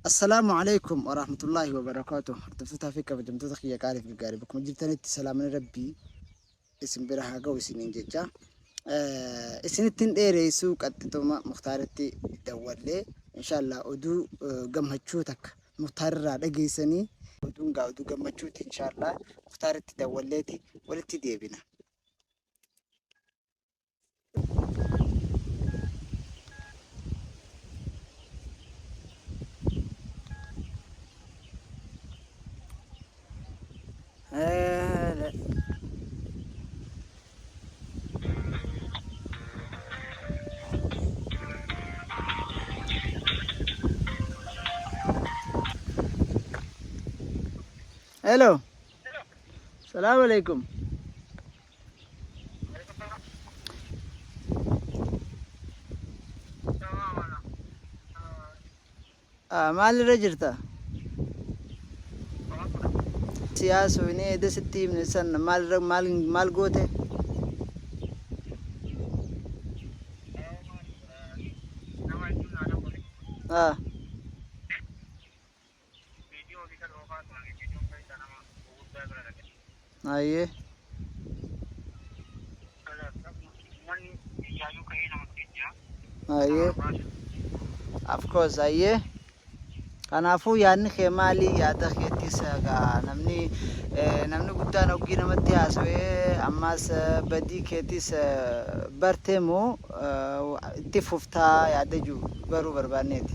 Assalaamu Aleykum Warahmatullaahi Wabarakaatuh Hordoftotaa fi kabajamtoota kiyya qaalii fi gaggaarii bakkuma jirtanitti salaamni rabbii isin bira haa ga'u isiniin jecha isinittiin dheereessuu qaxxituma muktaaritti dawwallee inshaallah oduu gammachuu takka muktaarirraa dhageessanii oduun gaa oduu gammachuuti inshaallah muktaaritti dawwalleeti walitti deebina. Hello. Salaam alaikum. Ah, maalirra jirta? Siyaasu inni eeda sitti himne san maalirra maal maal goote? Ah. Video olii kan oofaa turan video keessaa nama gurguddaa bira dhaqe. Ayyee. Uummanni biyyaayyuu ka'ee nama dhufee jira. Ayyee. Of course ayyee. Kanaafuu yaadni kee maali? Yaada keettis egaa namni eh, namni guddaan oggii namatti haasawee ammaas eh, badii keetis eh, bartee moo eh, itti fuftaa yaada jiru baruu barbaanneeti.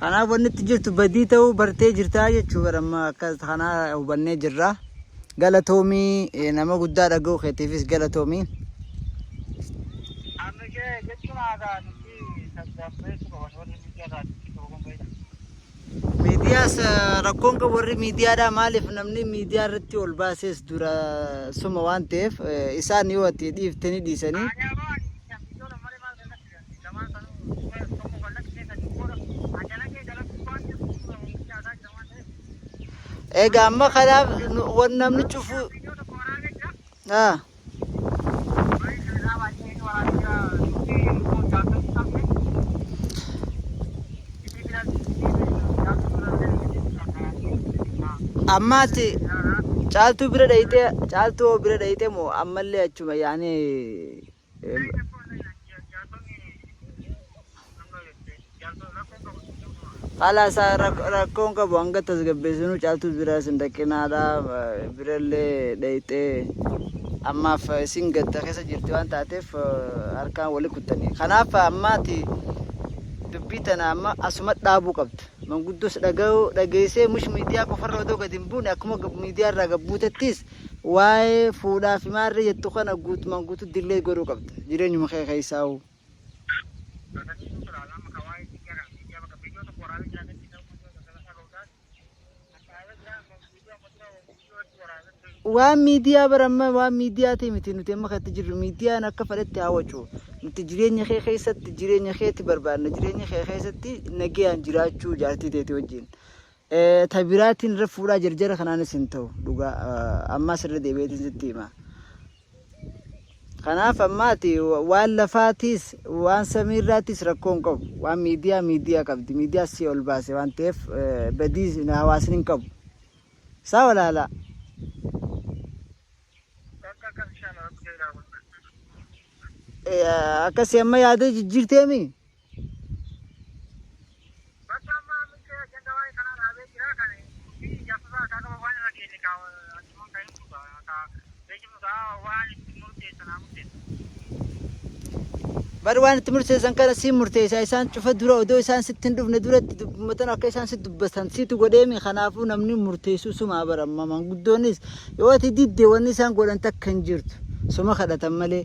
Kanaaf wanni itti jirtu badii ta'uu bartee jirtaa jechuudha amma akka kanaa hubannee jirra. Galatoomii eh, nama guddaa dhaga'uu keetiifis galatoomii. Amma ishee jechuun haasaa nuti tasgabbeessu qaban warri miidiyaa irraa jechuun tokko kun beekna. Miidiyaas eh, rakkoon qabu warri miidiyaadhaa maaliif namni miidiyaa irratti ol baasees dura suma waan ta'eef eh, isaan yoo ati dhiifte ni dhiisanii. Aanyaa ba'anii biyyoota malee maal kan Egaa amma kanaaf nu- wan namni cufu. Ah. Ammaati caaltuu bira dhayxee caaltuu hoo bira dhayxee moo ammallee achuma yaanee Em, Khalaas haa rak- rakkoon qabu hanga tasgabbeessinu caaltuus biraa isin dhaqinaadha eh, birallee dhayxee ammaaf eh, isin gadda keessa jirti waan taateef eh, harkaan wali kuttanii kanaaf ammaati dubbii tana amma asuma dhaabuu qabda manguddos dhaga'uu dhageessee mush miidiyaa qofarra odoo gad hin buune akkuma gab- miidiyaa irraa gabbuutettis waa'ee fuudhaa fi maarree jettu kana guutumaan guutuu delay godhuu qabda jireenyuma kee keessaahuu. Waan miidiyaa bara amma waan miidiyaa ta'e miti nuti amma kan itti jirru miidiyaan akka fedhetti haa wacu. Nuti jireenya kee keessatti jireenya keetti barbaadna jireenya kee keessatti nagayaan jiraachuu jaartii teeti wajjin. Ta biraatiin irra fuudhaa jarjara kanaanis hin ta'u dhugaa ammaas irra deebi'eetiin sitti hima. Kanaaf ammaati waan lafaatiis waan samiirraatiis rakkoo hin qabu. Waan miidiyaa miidiyaa qabdi. Miidiyaa si ol baase waan ta'eef badii hawaasni hin qabu. Isaa walaalaa. Akkasii amma yaada jijjiirteemi? Bakka amma ammillee ajanda waa'ee kanaa dhaabee jira. Kan murtii ijaarsotaa isaa qaba waan irra geenye kaa achumaan kan himnu ta'a. Kaa beeksifnu ta'a waan itti murteessan haa murteessan. Bar waan itti murteessan kana siin murteessaa isaan cufa dura odoo isaan sitti hin dhufne duratti dubbuma tana akka isaan si dubbatan situ godheemi kanaafuu namni murteessuu sumaa bar amma manguddoonis yoo ati didde wanni isaan godhan takka hin jirtu suma kadhatan malee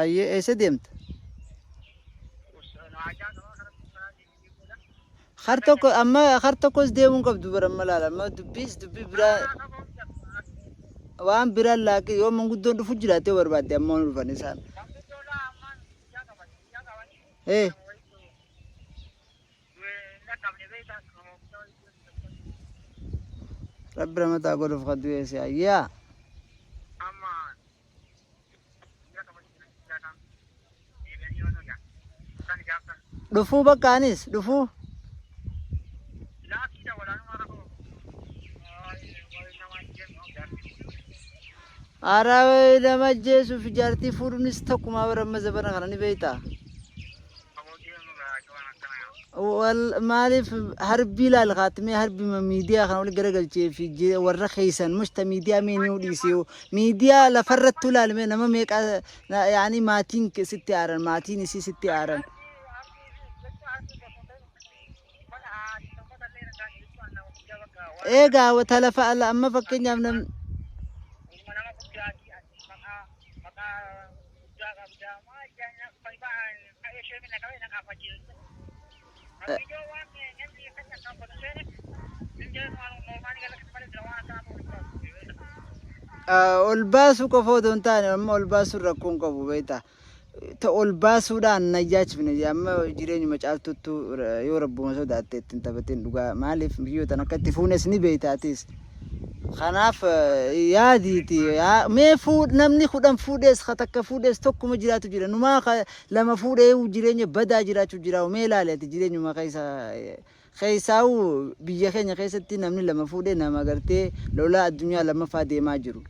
Ayyee eessa deemta? Har tokko amma har tokkos deemuu hin qabdu bara amma laala amma dubbiis dubbii biraa waan biraan laaqi yoo manguddoon dhufu jiraate yoo barbaadde amma waan dhufan isaan. Ee rabbi ramataa godhuuf kaddu eessa ayyaa. Dhufuu bakka anis dhufuu. Araa nama ajjeesuuf jaartii fuudhuunis takkumaa bara amma zabana kana ni beektaa? Wal maaliif harbii laal kaatmee harbima miidiyaa kana wal garagalchee fi je- warra keessan mushta miidiyaa mee ni dhiisee miidiyaa lafarrattuu laalmee nama meeqa na- yaani maatiin ke- sitti aaran maatiin isii sitti aaran. Egaa wa- talafa ala amma fakkeenyaaf nam guddaa qabdaa maa jaanya fai ba'aan ka'ee ishee minna qabee na qaafachiisu. Abbiyyoo waan namni kan na qaaffatu seene hin jedhan waan mormaanii galakatti malee jira waan akkanaa ta'uu hin qabu. Ol baasuu qofa otoo hin taane amma ol baasuun rakkoo hin qabu beektaa. Ta ol baasuudhaan na jaachifne amma jireenyuma caaltuttu yoo rabbuma sodaatte ittiin taphateen dhugaa maaliif miyyootan akka itti fuunes ni beektaa atis. Kanaaf yaadiiti yaa mee fuud namni kudhan fuudhees ka takka fuudhees tokkuma jiraatu jira numaa ka lama fuudhee jireenya badaa jiraachuu jiraa'u mee ilaali ati jireenyuma keessa keessaa'u biyya keenya keessatti namni lama fuudhee nama gartee lolaa addunyaa lammaffaa deemaa jiru.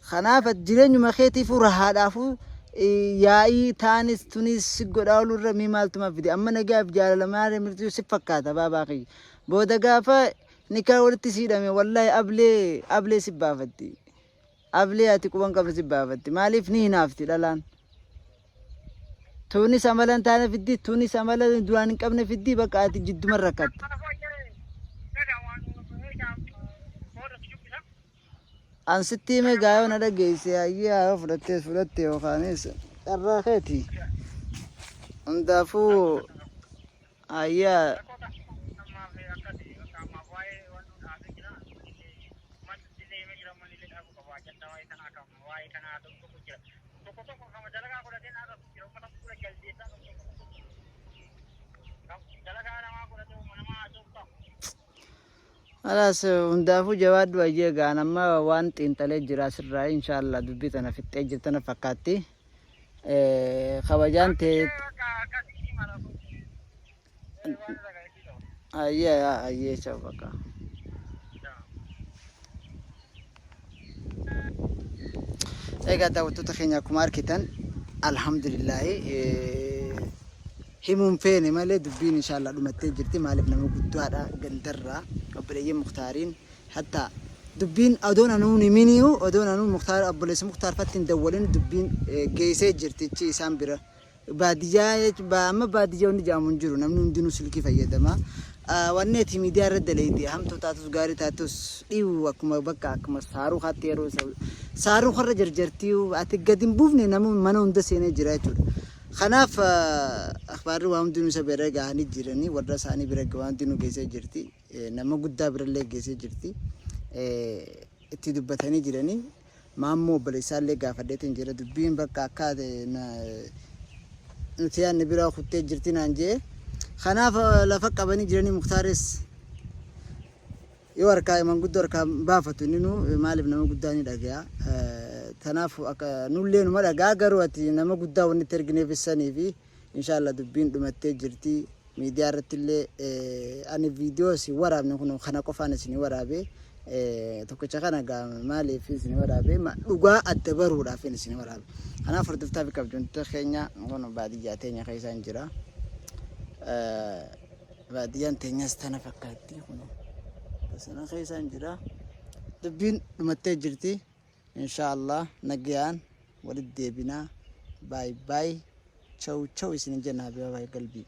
Kanaaf ati jireenyuma keetiifuu rahaadhaafuu yaa'ii taanis tunis si godhaa olurra mee maaltumaa fide amma nagaaf jaalala maaree mirtuu si fakkaata baabaa kiyya. Booda gaafa nikaa walitti si hidhame wallahi ablee ablee si baafatti. Ablee ati quban qabne si baafatti. Maaliif ni hinaafti dhalaan. Tuunis amala hin taane fiddi tuunis amala duraan hin qabne fiddi bakka ati jidduma rakkatte. An sitti hime gaa yoo na dhageesse hayyee haa yoo fudhattees fudhatte yookaanis carraa keeti. Hundaafuu hayyaa Alaas hundaafuu jawaadhu ayyee gaan amma waan xiinxalee jira asirraa inshaallah dubbii tana fixxee jirtana fakkaatti. Kabajaan tee ayyee ayyee chau bakka. Egaa daawwattoota keenya akkuma argitan alhamdulillaahi himuun feene malee dubbiin inshaallah dhumattee jirti maaliif nama guddaadha gandarraa obboleeyyiin muktaariin hatta dubbiin odoon anuun himiniyu odoon anuun muktaar obboleessi muktaar fattiin dawwalin dubbiin geessee jirtichi isaan bira Baadiyyaa jechuun ba- amma baadiyyaa wanni jedhamu hin jiru namni hundinuu silkii fayyadama. Ah, Wanni ati miidiyaa irra dalayde hamtuu taatus gaarii taatus dhiiwu akkuma bakka akkuma saaruu kaatti yeroo isa saaruu karra jarjartii ati gad hin buufne nama mana hunda seenee jira jechuudha. Kanaaf ah, akhbaarri waa hundinuu isa bira gahanii jiranii warra isaanii bira waa hundinuu geessee jirti. Eh, Nama guddaa birallee geessee jirti. Eh, Itti dubbatanii jiranii. Maammoo obboleessaallee gaafadheetiin jira dubbiin bakka akkaa ta'e na nuti yaadne biraa kuttee jirti naan jee kanaaf eh, lafa qabanii jiranii muktaaris yoo harkaa manguddoo harkaa hin baafatu inni nu eh, maaliif nama guddaa ni dhagaya Eh, tanaaf akka nullee numa dhagaa garuu ati nama guddaa wanni itti ergineef sanii fi Inshallah dubbiin dhumattee jirti. Miidiyaa irrattillee ani viidiyoo isin waraabne kun kana qofaan isin waraabe tokkicha kana gaa maaliif isin waraabe dhugaa adda baruudhaaf isin waraabe. Kanaaf hordoftaa fi kabjamtoota keenya kun baadiyyaa teenya keessa hin jira. Baadiyyaan teenyas tana fakkaatti kun sana keessa hin jira. Dubbiin dhumattee jirti. Inshaa Allah nagayaan walit deebinaa by by chaw chaw isinin jenaa habibabaye galbii.